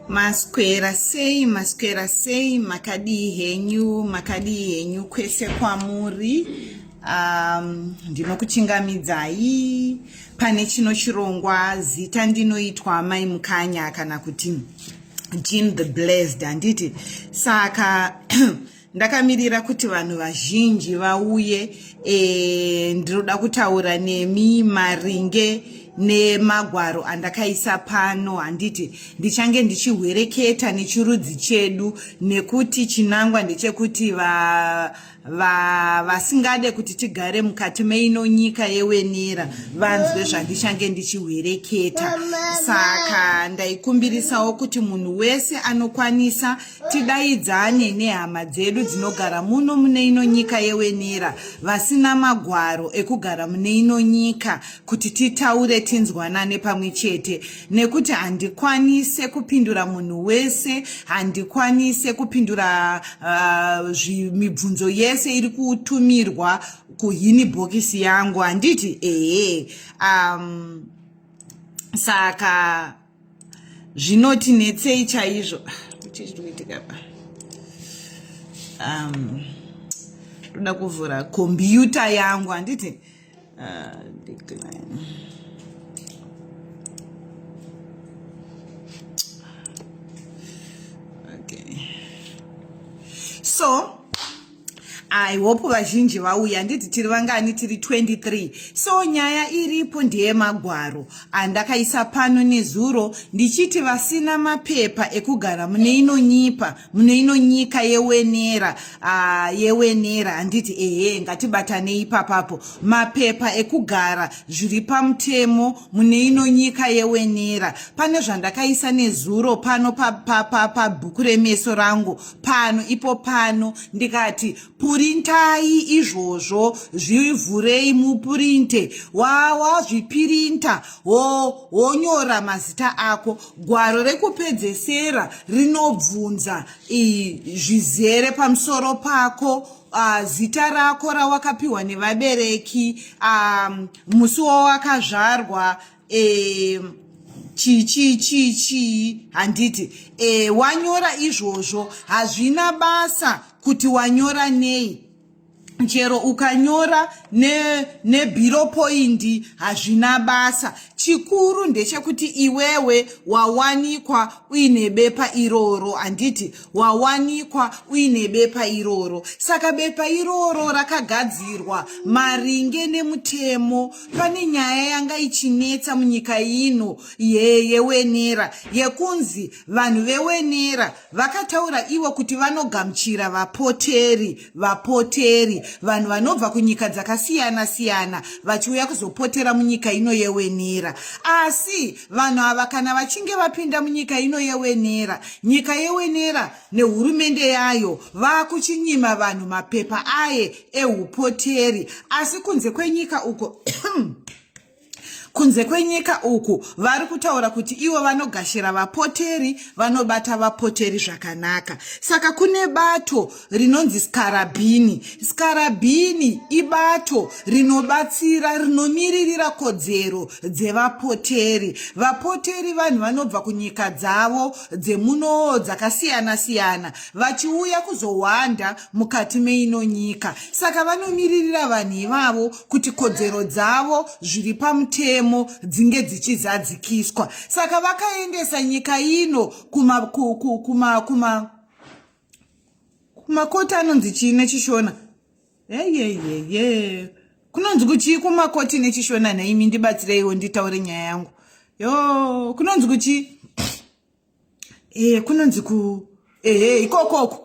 maswera sei maswera sei makadii henyu makadii henyu kwese kwamuri um, ndinokuchingamidzai pane chino chirongwa zita ndinoitwa mai mukanya kana kuti jean the blessed handiti saka ndakamirira kuti vanhu vazhinji vauye e, ndinoda kutaura nemi maringe nemagwaro andakaisa pano handiti ndichange ndichihwereketa nechirudzi chedu nekuti chinangwa ndechekuti va vasingade va, kuti tigare mukati meino nyika yewenera vanzwe zvandichange ndichihwereketa saka ndaikumbirisawo kuti munhu wese anokwanisa tidaidzane nehama dzedu dzinogara muno mune ino nyika yewenira vasina magwaro ekugara mune ino nyika kuti titaure tinzwanane pamwe chete nekuti handikwanise kupindura munhu wese handikwanise kupindura uh, mibvunzo yese iri kutumirwa kuhini bhokisi yangu handiti ehe um, saka zvinoti netsei chaizvo chii chiri kuitika pa um, ndoda kuvhura kombiyuta yangu handiti uh, so I hope vazhinji vauya handiti tiri vangani tiri 23 so nyaya iripo ndeyemagwaro andakaisa pano nezuro ndichiti vasina mapepa ekugara mune ino nyipa mune ino nyika yewenera uh, yewenera handiti ehe ngatibatanei papapo mapepa ekugara zviri pamutemo mune ino nyika yewenera pane zvandakaisa nezuro pano pabhuku pa, pa, pa, remeso rangu pano ipo pano ndikati purintai izvozvo zvivhurei mupurinte wawazvipirinta wonyora mazita ako gwaro rekupedzesera rinobvunza zvizere pamusoro pako Uh, zita rako rawakapiwa nevabereki um, musi wawakazvarwa e, chii chii chii chii handiti e, wanyora izvozvo hazvina basa kuti wanyora nei chero ukanyora nebiro ne poindi hazvina basa chikuru ndechekuti iwewe wawanikwa uine bepa iroro handiti wawanikwa uine bepa iroro saka bepa iroro rakagadzirwa maringe nemutemo pane nyaya yanga ichinetsa munyika ino yewenera yekunzi vanhu vewenera vakataura ivo kuti vanogamuchira vapoteri vapoteri vanhu vanobva kunyika dzakasiyana siyana vachiuya kuzopotera munyika ino yewenera asi vanhu ava kana vachinge vapinda munyika ino yewenera nyika yewenera nehurumende yayo vakuchinyima vanhu mapepa aye eupoteri asi kunze kwenyika uko kunze kwenyika uku vari kutaura kuti ivo vanogashira vapoteri vanobata vapoteri zvakanaka saka kune bato rinonzi skarabhini skarabhini ibato rinobatsira rinomiririra kodzero dzevapoteri vapoteri vanhu vanobva kunyika dzavo dzemunoo dzakasiyana-siyana vachiuya kuzohwanda mukati meino nyika saka vanomiririra vanhu ivavo kuti kodzero dzavo zviri pamutemo dzinge dzichizadzikiswa saka vakaendesa nyika ino kuma ku, ku, kuma kuma kumakoti anonzi chii nechishona eyeyeye kunonzi kuchii kumakoti nechishona nhaimi ndibatsireiwo nditaure nyaya yangu yo kunonzi kuchii eh kunonzi ku eh ikokoko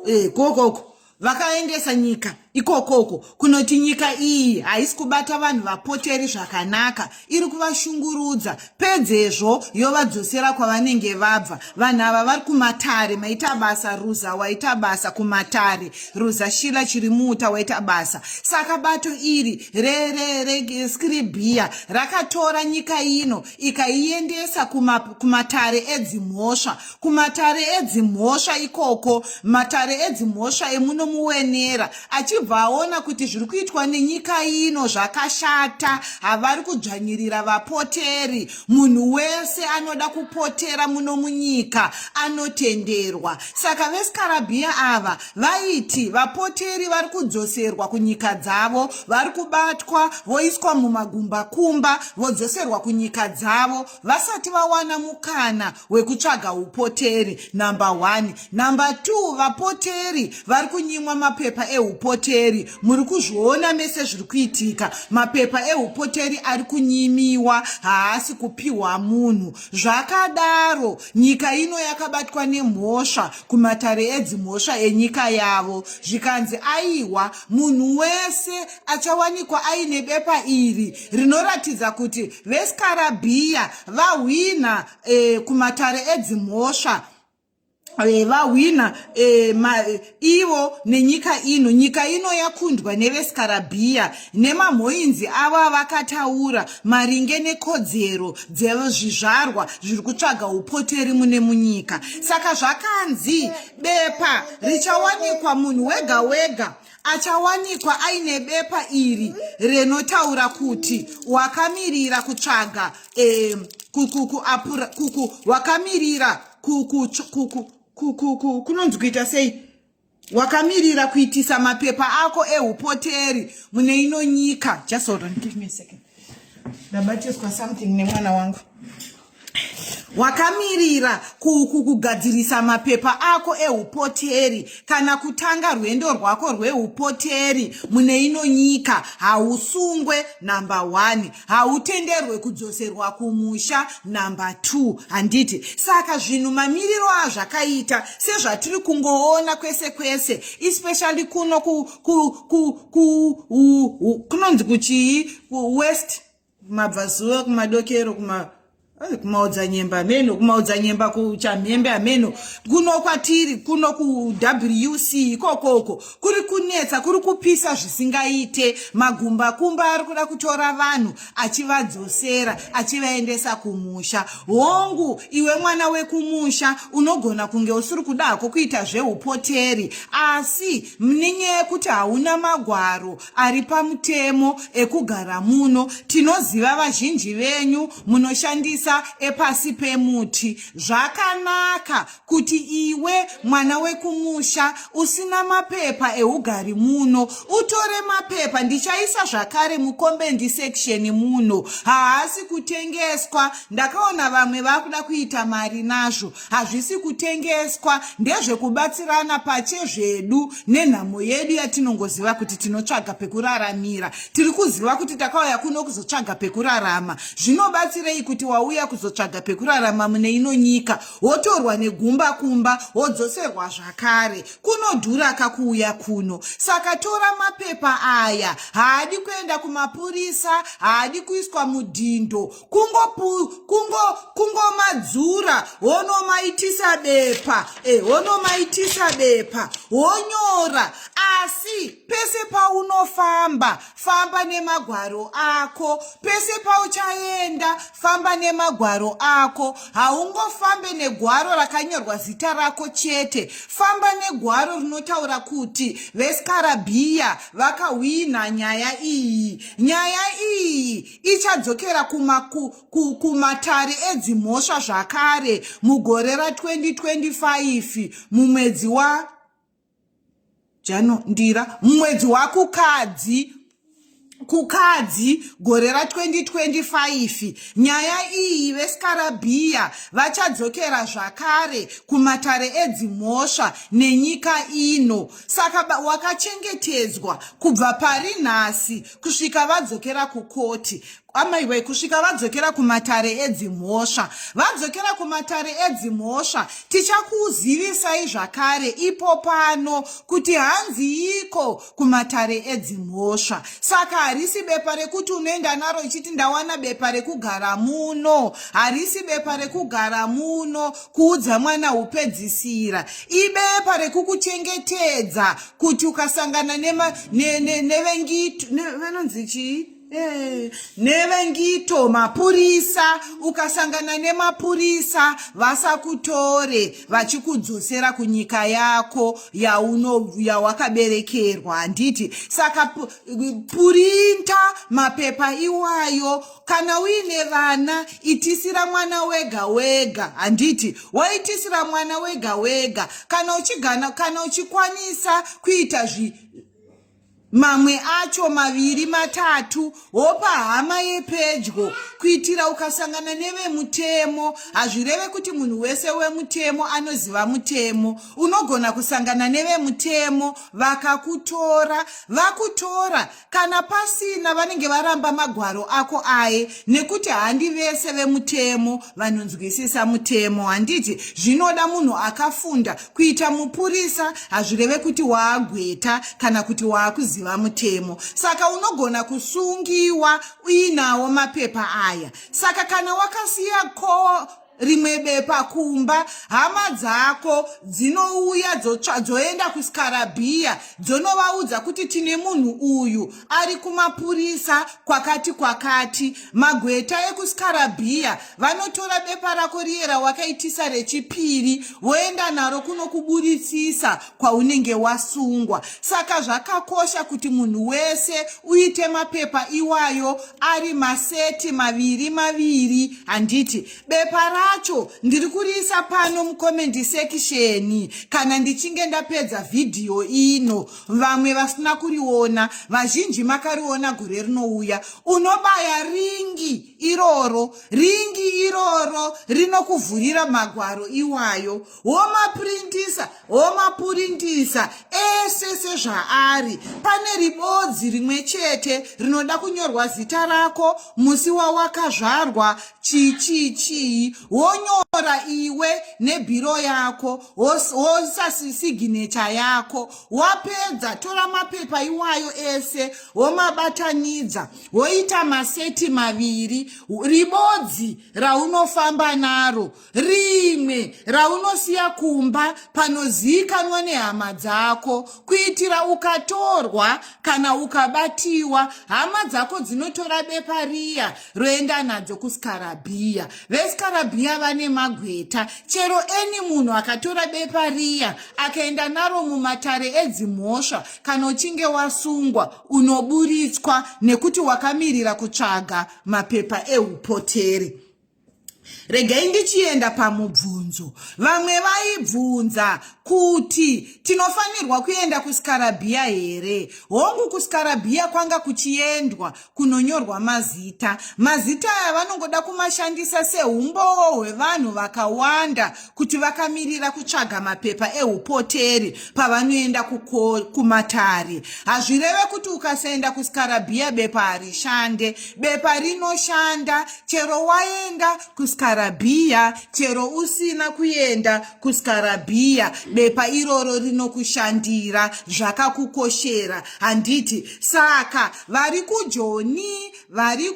eh kokoko vakaendesa nyika ikokoko kunoti nyika iyi haisi kubata vanhu vapoteri zvakanaka iri kuvashungurudza pedzezvo yovadzosera kwavanenge vabva vanhu ava vari kumatare maita basa ruza waita basa kumatare ruza shila chiri muuta waita basa saka bato iri reskiribhiya rakatora nyika ino ikaiendesa kumatare kuma edzimhosva kumatare edzimhosva ikoko matare edzimhosva emuno muwenera achibva aona kuti zviri kuitwa nenyika ino zvakashata havari kudzvanyirira vapoteri munhu wese anoda kupotera muno munyika anotenderwa saka vesikarabhiya ava vaiti vapoteri vari kudzoserwa kunyika dzavo vari kubatwa voiswa mumagumbakumba vodzoserwa kunyika dzavo vasati vawana mukana wekutsvaga upoteri number one number two vapoteri vari kunyimwa mapepa eupoteri muri kuzviona mese zviri kuitika mapepa eupoteri ari kunyimiwa haasi kupiwa munhu zvakadaro nyika ino yakabatwa nemhosva kumatare edzimhosva enyika yavo zvikanzi aiwa munhu wese achawanikwa aine bepa iri rinoratidza kuti vesikarabhiya vahwina e, kumatare edzimhosva Eh, vahwina eh, eh, ivo nenyika ino nyika ino yakundwa nevesikarabhiya nemamhoinzi avo avakataura maringe nekodzero dzezvizvarwa zviri kutsvaga upoteri mune munyika saka zvakanzi bepa richawanikwa munhu wega wega achawanikwa aine bepa iri rinotaura kuti wakamirira kutsvaga e, wakamirira kunonzi kuita sei wakamirira kuitisa mapepa ako eupoteri mune ino nyika just hold on give me a second ndabatiswa something nemwana wangu wakamirira kugadzirisa mapepa ako eupoteri kana kutanga rwendo rwako rweupoteri mune ino nyika hausungwe number one hautenderwe kudzoserwa kumusha number two handiti saka zvinhu mamiriro azvakaita sezvatiri kungoona kwese kwese especially kuno kunonzi kuchii west kumabvazuva kumadokero kuma kumaudza nyemba hameno kumaudza nyemba kuchamhembe hameno kuno kwatiri kuno kuwc ikokoko kuri kunetsa kuri kupisa zvisingaite magumbakumba ari kuda kutora vanhu achivadzosera achivaendesa kumusha hongu iwe mwana wekumusha unogona kunge usiri kudako kuita zveupoteri asi nenyaya yekuti hauna magwaro ari pamutemo ekugara muno tinoziva vazhinji venyu munoshandisa epasi pemuti zvakanaka kuti iwe mwana wekumusha usina mapepa eugari muno utore mapepa ndichaisa zvakare mukombendi section muno haasi kutengeswa ndakaona vamwe vakuda kuita mari nazvo hazvisi kutengeswa ndezvekubatsirana pache zvedu nenhamo yedu yatinongoziva kuti tinotsvaga pekuraramira tiri kuziva kuti takauya kuno kuzotsvaga pekurarama zvinobatsirei kuti wauya kuzotsvaga pekurarama mune ino nyika wotorwa negumba kumba wodzoserwa zvakare kunodhura kakuuya kuno saka tora mapepa aya haadi kuenda kumapurisa haadi kuiswa mudhindo kungomadzura wonomaitisa bepa e, wonomaitisa bepa wonyora asi pese paunofamba famba nemagwaro ako pese pauchaenda famba nemagwaro ako haungofambe negwaro rakanyorwa zita rako chete famba negwaro rinotaura kuti vesikarabhiya vakahwina nyaya iyi nyaya iyi ichadzokera kumatare ku, ku, edzimhosva zvakare mugore ra 2025 mumwedzi wa jano ndira mumwedzi wakukadzi kukadzi gore ra 2025 nyaya iyi vesikarabhiya vachadzokera zvakare kumatare edzimhosva nenyika ino saka wakachengetedzwa kubva pari nhasi kusvika vadzokera kukoti amaiwe kusvika vadzokera kumatare edzimhosva vadzokera kumatare edzimhosva tichakuzivisai zvakare ipo pano kuti hanziiko kumatare edzimhosva saka harisi bepa rekuti unoenda naro ichiti ndawana bepa rekugara muno harisi bepa rekugara muno kuudza mwana upedzisira ibepa rekukuchengetedza kuti ukasangana nevengito vanonzi chii eh, nevengito mapurisa ukasangana nemapurisa vasakutore vachikudzosera kunyika yako yauno yawakaberekerwa handiti saka purinta mapepa iwayo kana uine vana itisira mwana wega wega handiti woitisira mwana wega wega kana uchigana kana uchikwanisa kuita zvi mamwe acho maviri matatu wopa hama yepedyo kuitira ukasangana nevemutemo hazvireve kuti munhu wese wemutemo anoziva mutemo unogona kusangana nevemutemo vakakutora vakutora Kana pasina vanenge varamba magwaro ako aye nekuti handi vese vemutemo vanonzwisisa mutemo handiti zvinoda munhu akafunda kuita mupurisa hazvireve kuti waagweta kana kuti waakuziva mutemo saka unogona kusungiwa uinawo mapepa aya saka kana wakasiya ko rimwe bepa kumba hama dzako dzinouya dzoenda kuskarabhiya dzonovaudza kuti tine munhu uyu ari kumapurisa kwakati kwakati magweta ekuskarabhiya vanotora bepa rako riye rawakaitisa rechipiri voenda naro kunokuburitsisa kwaunenge wasungwa saka zvakakosha kuti munhu wese uite mapepa iwayo ari maseti maviri maviri handiti bepa racho ndiri kuriisa pano mukomendi sekisheni kana ndichinge ndapedza vhidhiyo ino vamwe vasina kuriona vazhinji makariona gore rinouya unobaya ringi iroro ringi iroro rinokuvhurira magwaro iwayo womaprintisa womapurintisa ese sezvaari pane ribodzi rimwe chete rinoda kunyorwa zita rako musi wawakazvarwa chichichii wonyora iwe nebhiro yako wosasisiginecha yako wapedza tora mapepa iwayo ese womabatanidza woita maseti maviri ribodzi raunofamba naro rimwe raunosiya kumba panozivikanwa nehama dzako kuitira ukatorwa kana ukabatiwa hama dzako dzinotora bepa riya roenda nadzo kusikarabhiya vesikarabhiya vane magweta chero eni munhu akatora bepa riya akaenda naro mumatare edzimhosva kana uchinge wasungwa unoburitswa nekuti wakamirira kutsvaga mapepa eupoteri regai ndichienda pamubvunzo vamwe vaibvunza kuti tinofanirwa kuenda kusikarabhiya here hongu kusikarabhiya kwanga kuchiendwa kunonyorwa mazita mazita aya vanongoda kumashandisa seumbowo hwevanhu vakawanda kuti vakamirira kutsvaga mapepa eupoteri pavanoenda kumatare hazvireve kuti ukasaenda kusikarabhiya bepa harishande bepa rinoshanda chero waenda kusikarabhiya chero usina kuenda kusikarabhiya bepa iroro rinokushandira zvakakukoshera handiti saka vari kujoni vari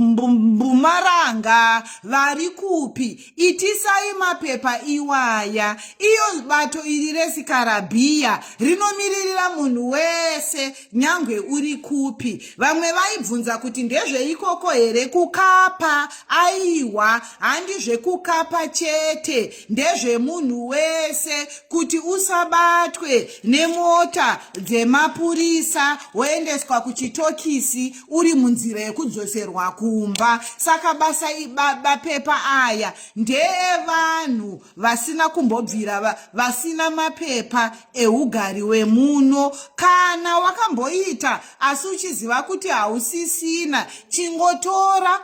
kumbumaranga vari kupi itisai mapepa iwaya iyo bato iri resikarabhiya rinomiririra munhu wese nyange uri kupi vamwe vaibvunza kuti ndezveikoko here kukapa aiwa handi zvekukapa chete ndezvemunhu wese kuti usabatwe nemota dzemapurisa woendeswa kuchitokisi uri munzira yekudzoserwa kumba saka basa mapepa aya ndeevanhu vasina kumbobvira vasina mapepa eugari wemuno kana wakamboita asi uchiziva kuti hausisina chingotora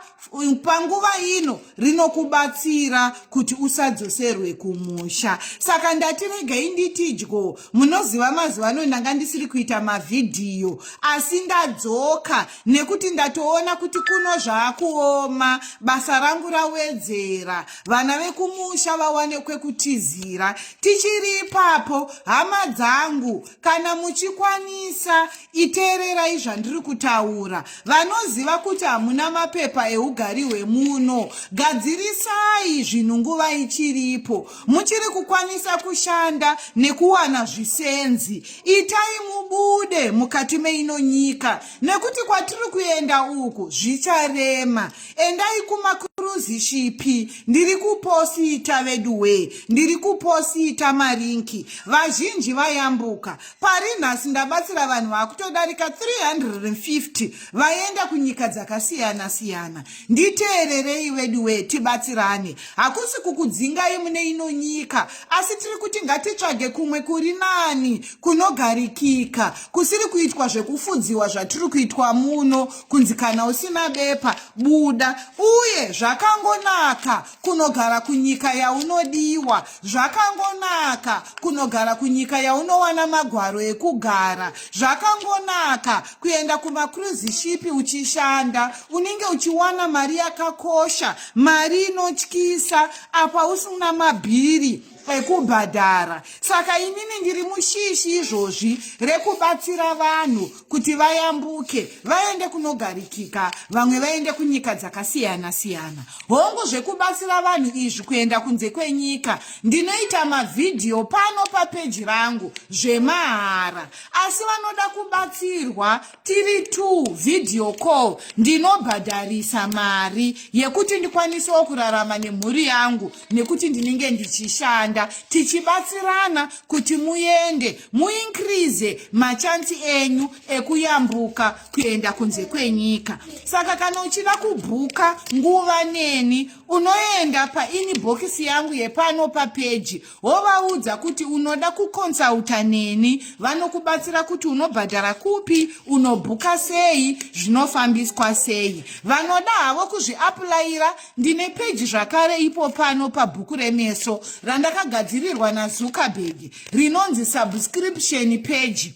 panguva ino rinokubatsira kuti usadzoserwe kumusha saka ndati regai nditidyo munoziva mazuva ano ndanga ndisiri kuita mavhidhiyo asi ndadzoka nekuti ndatoona kuti kuno zvaakuoma basa rangu rawedzera vana vekumusha vawane kwekutizira tichiri ipapo hama dzangu kana muchikwanisa iteererai zvandiri kutaura vanoziva kuti hamuna mapepa eugari hwemuno gadzirisai zvinhu nguva ichiripo muchiri kukwanisa kushanda nekuwana zvisenzi itai mubude mukati meino nyika nekuti kwatiri kuenda uku zvicharema endai kumakuruzishipi ndiri kuposita veduwee ndiri kuposita marinki vazhinji vayambuka pari nhasi ndabatsira vanhu vakutodarika 350 vaenda kunyika dzakasiyana siyana nditeererei veduwee tibatsirane hakusi kukudzingai mune ino nyika asi tiri kuti ngatitsvage kumwe kuri nani kunogarikika kusiri kuitwa zvekufudziwa zvatiri kuitwa muno kunzi kana usina bepa buda uye zvakangonaka kunogara kunyika yaunodiwa zvakangonaka kunogara kunyika yaunowana magwaro ekugara zvakangonaka kuenda kumacruise shipi uchishanda unenge uchiwana mari yakakosha mari inotyisa apa usina mabhiri ekubhadhara saka inini ndiri mushishi izvozvi rekubatsira vanhu kuti vayambuke vaende kunogarikika vamwe vaende kunyika dzakasiyana siyana hongu zvekubatsira vanhu izvi kuenda kunze kwenyika ndinoita mavhidhiyo pano papeji rangu zvemahara asi vanoda kubatsirwa tiri two video call ndinobhadharisa mari yekuti ndikwanisewo kurarama nemhuri yangu nekuti ndinenge ndichishanda tichibatsirana kuti muende muinkrize machansi enyu ekuyambuka kuenda kunze kwenyika saka kana uchida kubhuka nguva neni unoenda painibhokisi yangu yepano papeji wovaudza kuti unoda kukonsulta neni vanokubatsira kuti unobhadhara kupi unobhuka sei zvinofambiswa sei vanoda havo kuzviapulayira ndine peji zvakare ipo pano pabhuku remeso randakagadzirirwa nazuckerberg rinonzi subscription peji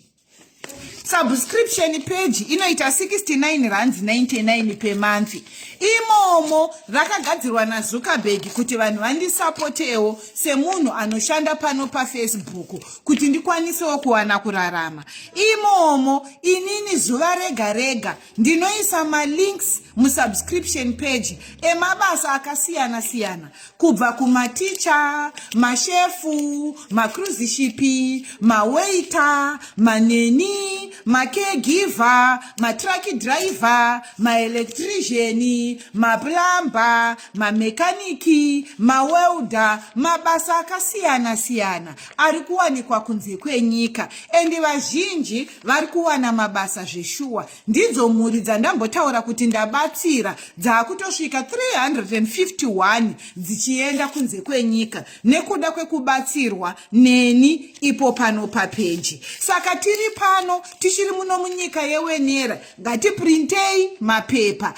subscription page inoita 69 rand 99 per month imomo rakagadzirwa nazuckerberg kuti vanhu vandisapotewo semunhu anoshanda pano pafacebook kuti ndikwanisewo kuwana kurarama imomo inini zuva rega rega ndinoisa malinks musubscription page emabasa akasiyana siyana kubva kumaticha mashefu macruzishipi mawaita maneni makegiver matraki driver maelectriciani maplumber mamekaniki mawelda mabasa akasiyana siyana ari kuwanikwa kunze kwenyika endi vazhinji vari kuwana mabasa zveshuwa ndidzo mhuri dzandambotaura kuti ndabatsira dzaakutosvika 351 dzichienda kunze kwenyika nekuda kwekubatsirwa neni ipo pano papeji saka tiri pano tichiri muno munyika yewenera ngatiprintei mapepa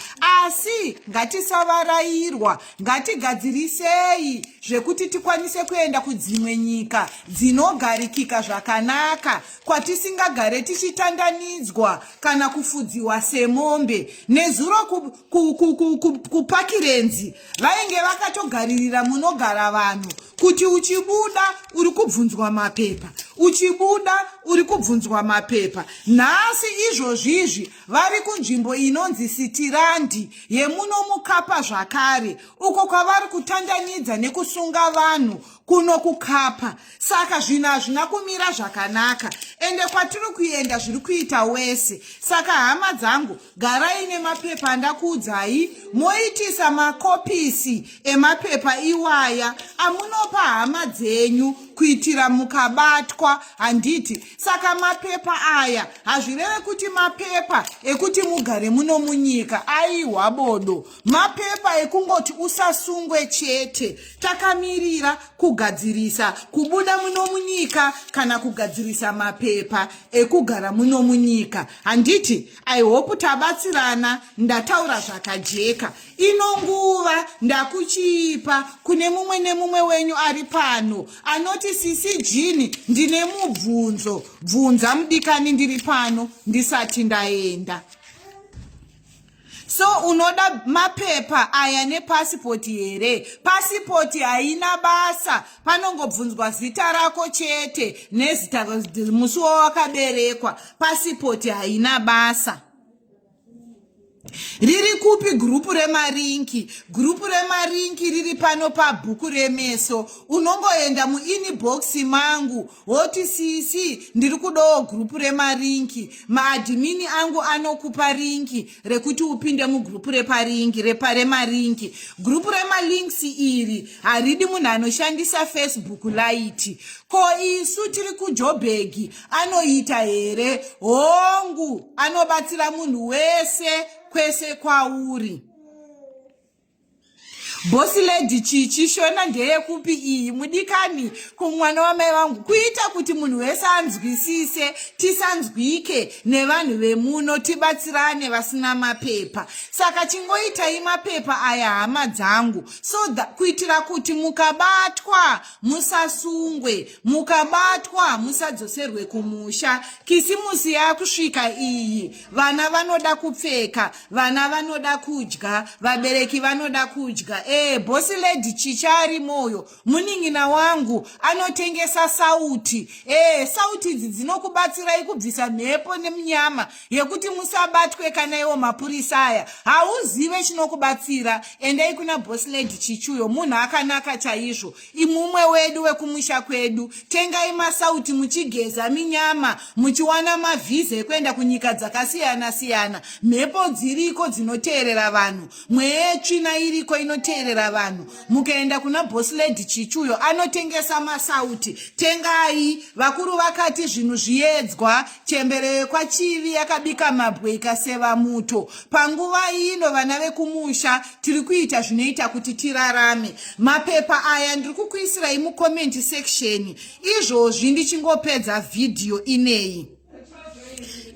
asi ngatisavarairwa ngatigadzirisei zvekuti tikwanise kuenda kudzimwe nyika dzinogarikika zvakanaka kwatisingagare tichitandanidzwa kana kufudziwa semombe nezuro kupakirenzi vainge vakatogaririra munogara vanhu kuti uchibuda uri kubvunzwa mapepa uchibuda uri kubvunzwa mapepa nhasi izvozvi izvi vari kunzvimbo inonzi sitirandi yemuno mukapa zvakare uko kwavari kutandanidza nekusunga vanhu kuno kukapa saka zvinhu hazvina kumira zvakanaka ende kwatiri kuenda zviri kuita wese saka hama dzangu garai nemapepa andakuudzai moitisa makopisi emapepa iwaya amunopa hama dzenyu kuitira mukabatwa handiti saka mapepa aya hazvireve kuti mapepa ekuti mugare muno munyika aiwa bodo Mapepa ekungoti usasungwe chete. Takamirira kugadzirisa kubuda muno munyika kana kugadzirisa mapepa ekugara muno munyika. Handiti? I hope tabatsirana ndataura zvakajeka. Ino nguva ndakuchiipa kune mumwe nemumwe wenyu ari pano anoti sisi Jini ndine mubvunzo. Bvunza mudikani ndiri pano ndisati ndaenda. So unoda mapepa aya nepasipoti here? Pasipoti haina basa, panongobvunzwa zita rako chete nezita musi wawakaberekwa. Pasipoti haina basa. Riri kupi gurupu remarinki? Gurupu remarinki riri pano pabhuku remeso. Unongoenda muinibhokisi mangu. woti sisi ndiri kudawo gurupu remarinki maadhimini angu anokupa rinki rekuti upinde mugurupu reparinki reparemarinki gurupu remalinks iri haridi munhu anoshandisa facebook light ko isu tiri kujobhegi anoita here hongu anobatsira munhu wese kwese kwauri Boss lady chichi shona ndeyekupi iyi mudikani kumwana wamai vangu kuita kuti munhu wese anzwisise tisanzwike nevanhu vemuno tibatsirane vasina mapepa saka chingoitai mapepa aya hama dzangu so kuitira kuti mukabatwa musasungwe mukabatwa hamusadzoserwe kumusha kisimusi yakusvika iyi vana vanoda kupfeka vana vanoda kudya vabereki vanoda kudya ee bosi lady chicha ari moyo munin'ina wangu anotengesa sauti ee sauti idzi dzinokubatsirai kubvisa mhepo nemunyama yekuti musabatwe kana iwo mapurisa aya hauzive chinokubatsira endai kuna bosi lady chichuyo munhu akanaka chaizvo imumwe wedu wekumusha kwedu tengai masauti muchigeza minyama muchiwana mavhiza ekuenda kunyika dzakasiyana siyana mhepo dziriko dzinoteerera vanhu mweya yetsvina iriko inoteerera vanhu mukaenda kuna bosiledi chichuyo anotengesa masauti tengai vakuru vakati zvinhu zviyedzwa chembere yekwachivi yakabika mabwe ikaseva muto panguva ino vana vekumusha tiri kuita zvinoita kuti tirarame mapepa aya ndiri kukuisirai mucomment section izvozvi ndichingopedza vhidhiyo ineyi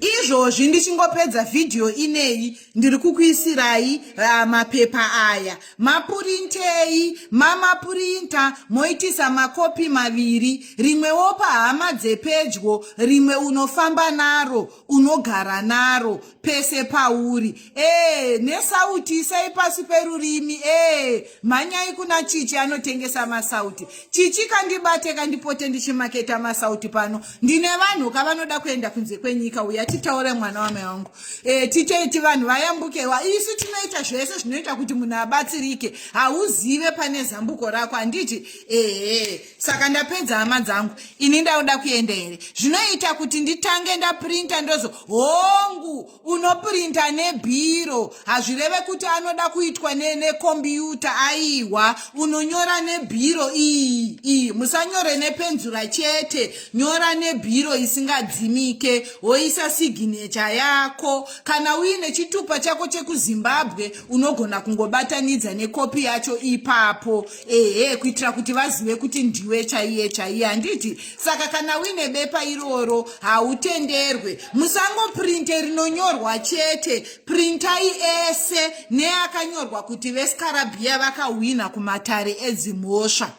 izvozvi ndichingopedza vhidhiyo ineyi ndiri kukuisirai uh, mapepa aya mapurintei mamapurinta moitisa makopi maviri rimwewo pahama dzepedyo rimwe unofamba naro unogara naro pese pauri ee eh, nesauti isai pasi perurimi ee eh, mhanyai kuna chichi anotengesa masauti chichi kandibate kandipote ndichimaketa masauti pano ndine vanhu ka vanoda kuenda kunze kwenyika uya titaure mwana wamai wangu ee eh, titeiti vanhu vayambukewa isu tinoita zvese zvinoita kuti munhu abatsirike hauzive pane zambuko rako handiti ehe saka ndapedza hama dzangu ini ndauda kuenda here zvinoita kuti nditange ndaprinta ndozo hongu unoprinta nebhiro hazvireve kuti anoda kuitwa nekombiyuta ne aiwa unonyora nebhiro iyi iyi musanyore nepenzura chete nyora nebhiro isingadzimike woisa signecha yako kana uine chitupa chako chekuzimbabwe unogona kungobatanidza nekopi yacho ipapo ehe kuitira kuti vazive kuti ndiwe chaiye chaiye handiti saka kana uine bepa iroro hautenderwe musangoprinte rinonyorwa chete printai ese neakanyorwa kuti veskarabhiya vakahwina kumatare edzimhosva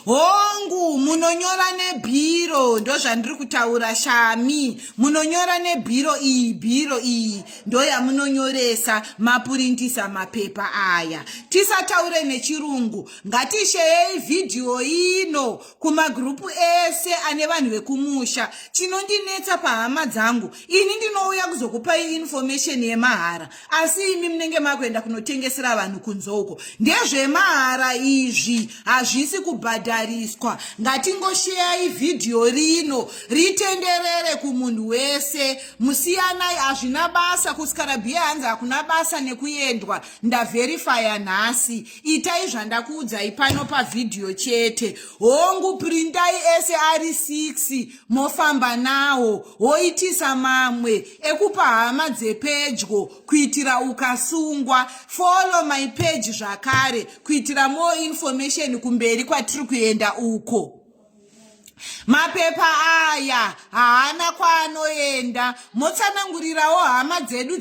hongu munonyora nebhiro ndozvandiri kutaura shami munonyora nebhiro iyi bhiro iyi ndoyamunonyoresa mapurindisa mapepa aya tisataure nechirungu ngatisheyei vhidhiyo ino kumagrupu ese ane vanhu vekumusha chinondinetsa pahama dzangu ini ndinouya kuzokupai information yemahara asi imi munenge makuenda kunotengesera vanhu kunze uko ndezvemahara izvi hazvisi kubhadhariswa ngatingosheyai vhidhiyo rino ritenderere kumunhu wese musiyanai hazvina basa kuskarabia hanzi hakuna basa nekuendwa ndaverifaya nhasi itai zvandakuudzai pano pavhidhiyo chete hongu prindai ese ari 6 mofamba nawo woitisa mamwe ekupa hama dzepedyo kuitira ukasungwa follow my page zvakare kuitira more information kumberi kwatiri kuenda uko mapepa aya haana kwaanoenda motsanangurirawo hama dzedu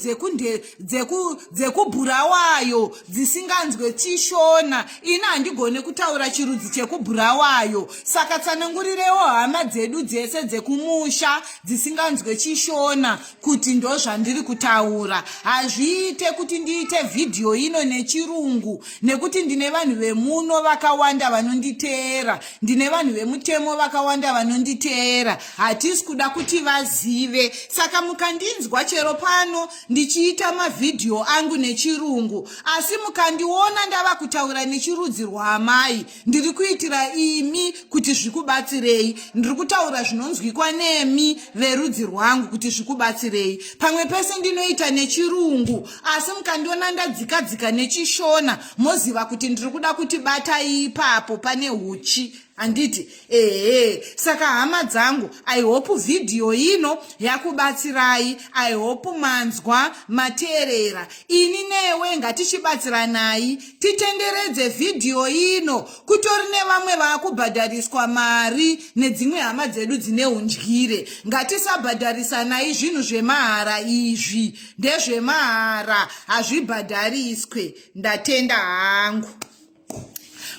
dzekubhurawayo dzisinganzwe chishona ini handigone kutaura chirudzi chekubhurawayo saka tsanangurirewo hama dzedu dzese dzekumusha dzisinganzwe chishona kuti ndozvandiri kutaura hazviite kuti ndiite vhidhiyo ino nechirungu nekuti ndine vanhu vemuno vakawanda vanonditeera ndine vanhu vemutemo vakawanda vanonditeera hatisi kuda kuti vazive saka mukandinzwa chero pano ndichiita mavhidhiyo angu nechirungu asi mukandiona ndava kutaura nechirudzi rwaamai ndiri kuitira imi kuti zvikubatsirei ndiri kutaura zvinonzwikwa nemi verudzi rwangu kuti zvikubatsirei pamwe pese ndinoita nechirungu asi mukandiona ndadzikadzika nechishona moziva kuti ndiri kuda kuti batai ipapo pane uchi handiti ehe saka hama dzangu i hope vhidhiyo ino yakubatsirai i hope manzwa mateerera ini newe ngatichibatsiranai titenderedze vhidhiyo ino kutori nevamwe vakubhadhariswa mari nedzimwe hama dzedu dzine undyire ngatisabhadharisanai zvinhu zvemahara izvi ndezvemahara hazvibhadhariswe ndatenda hangu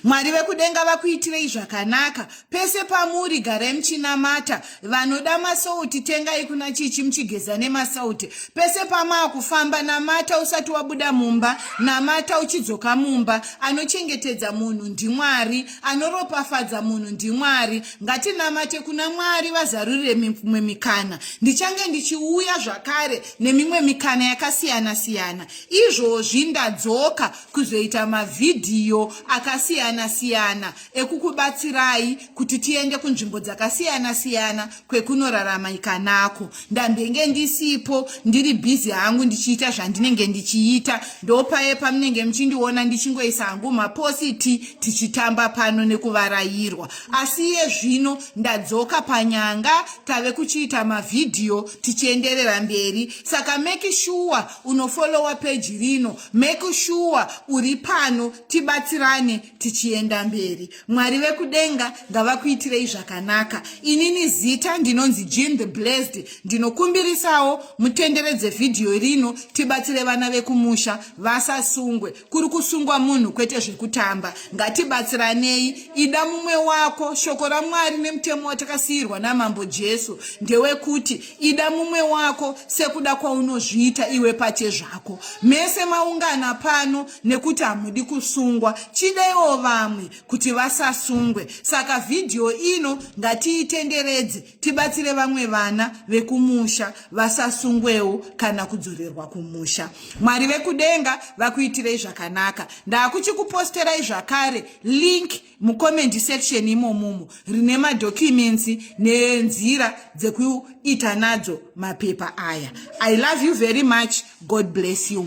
mwari vekudenga vakuitirei zvakanaka pese pamuri garai muchinamata vanoda masauti tengai kuna chichi muchigeza nemasauti pese pamaakufamba namata usati wabuda mumba namata uchidzoka mumba anochengetedza munhu ndimwari anoropafadza munhu ndimwari ngatinamate kuna mwari vazarurire mimwe mikana ndichange ndichiuya zvakare nemimwe mikana yakasiyana siyana izvozvi ndadzoka kuzoita mavhidhiyo akasiyana siyana ekukubatsirai kuti tiende kunzvimbo dzakasiyana siyana kwekunorarama ikanako ndambenge ndisipo ndiri bhizi hangu ndichiita zvandinenge ndichiita ndopaye pamunenge muchindiona ndichingoisa hangu mapositi tichitamba pano nekuvarayirwa asi iye zvino ndadzoka panyanga tave kuchiita mavhidhiyo tichienderera mberi saka make sure unofolowa peji rino make sure uri pano tibatsirane tichienda mberi mwari vekudenga ngavakuitirei zvakanaka inini zita ndinonzi jean the blessed ndinokumbirisawo mutenderedze vhidhiyo rino tibatsire vana vekumusha vasasungwe kuri kusungwa munhu kwete zvekutamba ngatibatsiranei ida mumwe wako shoko ramwari nemutemo watakasiyirwa namambo jesu ndewekuti ida mumwe wako sekuda kwaunozviita iwe pache zvako mese maungana pano nekuti hamudi kusungwa chidaiwo vamwe kuti vasasungwe saka vhidhiyo ino ngatiitenderedze tibatsire vamwe vana vekumusha vasasungwewo kana kudzorerwa kumusha mwari vekudenga vakuitirei zvakanaka ndakuchikuposterai zvakare link mucomment section imomomo rine madocuments nenzira dzekuita nadzo mapepa aya i love you very much god bless you